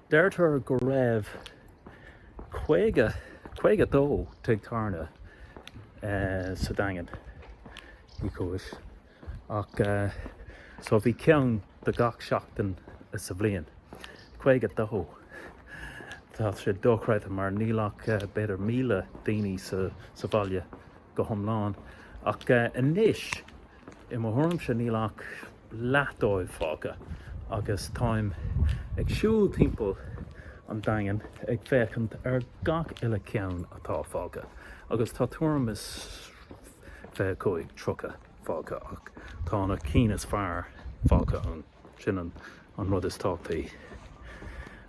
Deirtear go raibh 50, 52 tigh tabhairne sa Daingean because ach so bhí ceann do gach seachtain sa bhliain. 52! Tá sé dochreidte mar níl ach b'fhéidir 1,000 daoine sa bhaile go hiomlán ach anois i mo thuairimse níl ach, leath dóibh fágtha agus táim ag siúl timpeall an Daingin ag féachaint ar gach uile cheann atá fágtha agus tá tuairim is fiche cúig, tríocha fágtha ach tá na cinn is fearr fágtha, sin an rud is tábhachtaí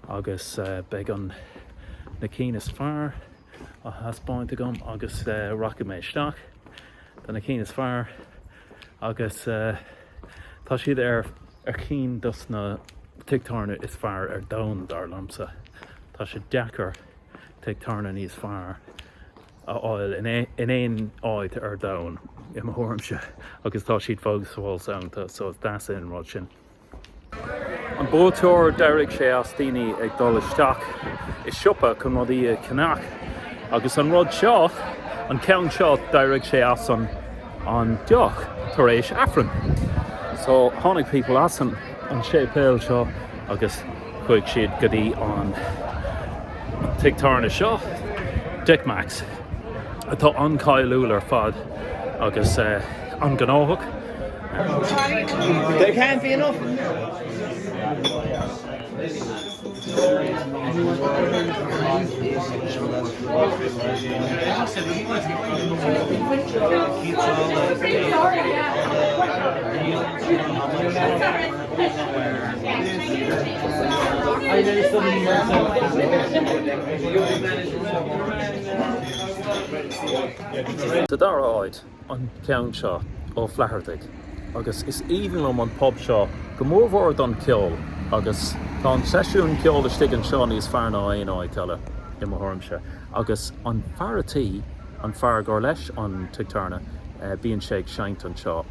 agus beidh na cinn is fearr. á thaispeáint agam agus rachaidh mé isteach do na cinn is fearr agus tá siad ar chinn dos na tigh tábhairne is fearr ar domhan, dar liomsa. Tá sé deacair tigh tábhairne níos fearr a fháil in aon áit ar domhan, i mo thuairimse, agus tá siad fós ar fáil ann, so is deas é an rud sin. An búistéir, d'éirigh sé as daoine ag dul isteach i siopa chun rudaí a cheannach, agus an rud seo, an ceann seo, d'éirigh sé as an an deoch tar éis Aifrinn. So, tháinig pobal as an an séipéal seo agus. Chuaigh siad go dtí an tigh tábhairne seo, Dick Mack's, atá an-cháiliúil ar fad agus an-ghnóthach. Sa dara háit, an ceann seo Ó Flaitheartaigh, agus is aoibhinn liom an pub seo, go mór mhór don cheol, agus tá an seisiún ceol istigh anseo níos fearr ná aon áit eile, i mo thuairimse. Agus an fear a' tí, an fear gur leis an tigh tábhairne, bhíonn sé ag seinnt anseo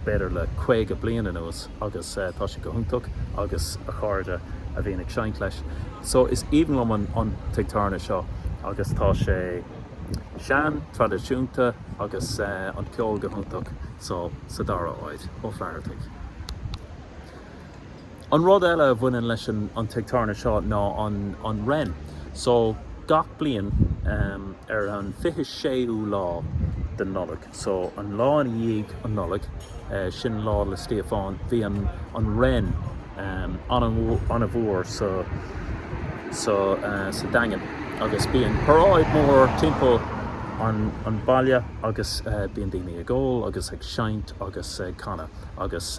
b'fhéidir le caoga bliain anuas agus tá sé go hiontach agus a chairde a bhíonn ag seinnt leis so is aoibhinn liom an tigh tábhairne seo agus tá sé sean, traidisiúnta agus an ceol go hiontach so sa dara háit, Ó Flaitheartaigh. An rud eile a bhaineann leis an an tigh tábhairne seo ná an an Wren. So, gach bliain ar an fiche séú lá den Nollaig, so an lá ina dhiaidh an Nollaig, sin Lá 'le Stíofán, bíonn an an Wren an-mhór sa sa sa Daingean agus bíonn paráid mhór timpeall an an bhaile agus bíonn daoine ag ól agus ag seinnt agus ag canadh agus.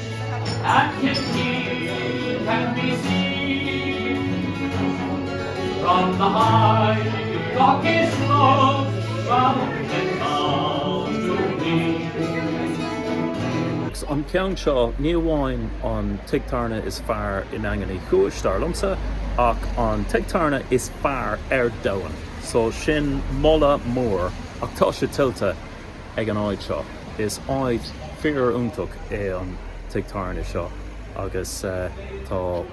an ceann seo, ní amháin an tigh tábhairne is fearr i nDaingean Uí Chúis, dar liomsa, ach an tigh tábhairne is fearr ar domhan. So sin moladh mór, ach tá sé tuillte. ag an áit seo. Is áit fíoriontach é an tigh tábhairne seo agus tá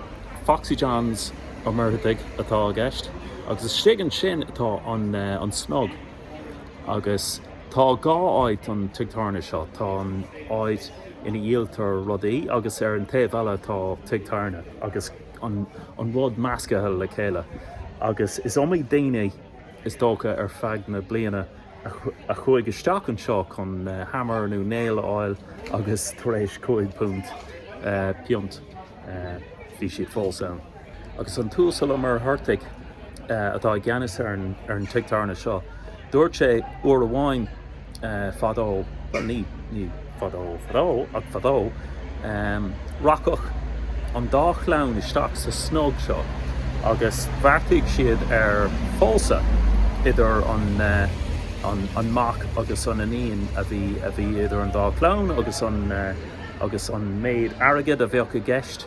Foxy John's Ó Muircheartaigh atá i gceist agus istigh ansin atá an Snug agus tá dhá áit don tigh tábhairne seo, tá an áit ina dhíoltar rudaí agus ar an taobh eile tá tigh tábhairne agus an rud meascaithe le chéile agus is iomaí daoine. is dócha, ar feadh na bliana a chuaigh isteach anseo chun hammer nó nail a fháil agus tar éis cúig phunt, piont, bhí siad fós ann. Agus an tUasal Ó Muircheartaigh, atá i gceannas ar an tigh tábhairne seo, dúirt sé uair amháin. fadó, bhuel, ní, ní fadó, fadó, ach fadó, rachadh an dá chlann isteach sa snug seo agus bheartaigh siad ar phósadh idir an, an, an mac agus an iníon a bhí, a bhí idir an dá chlann agus an, agus an méid airgid a bheadh i gceist,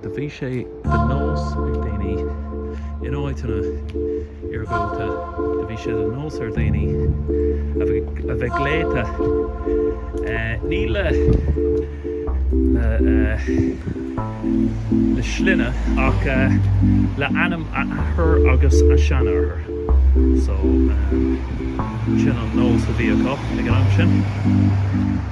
Do bhí sé de nós ar dhaoine in áiteanna iargúlta, do bhí sé de nós ar dhaoine a bheith glaoite, ní le, le sloinne ach le ainm a athar agus a seanathar. So, sin an nós a bhí acu ag an am sin.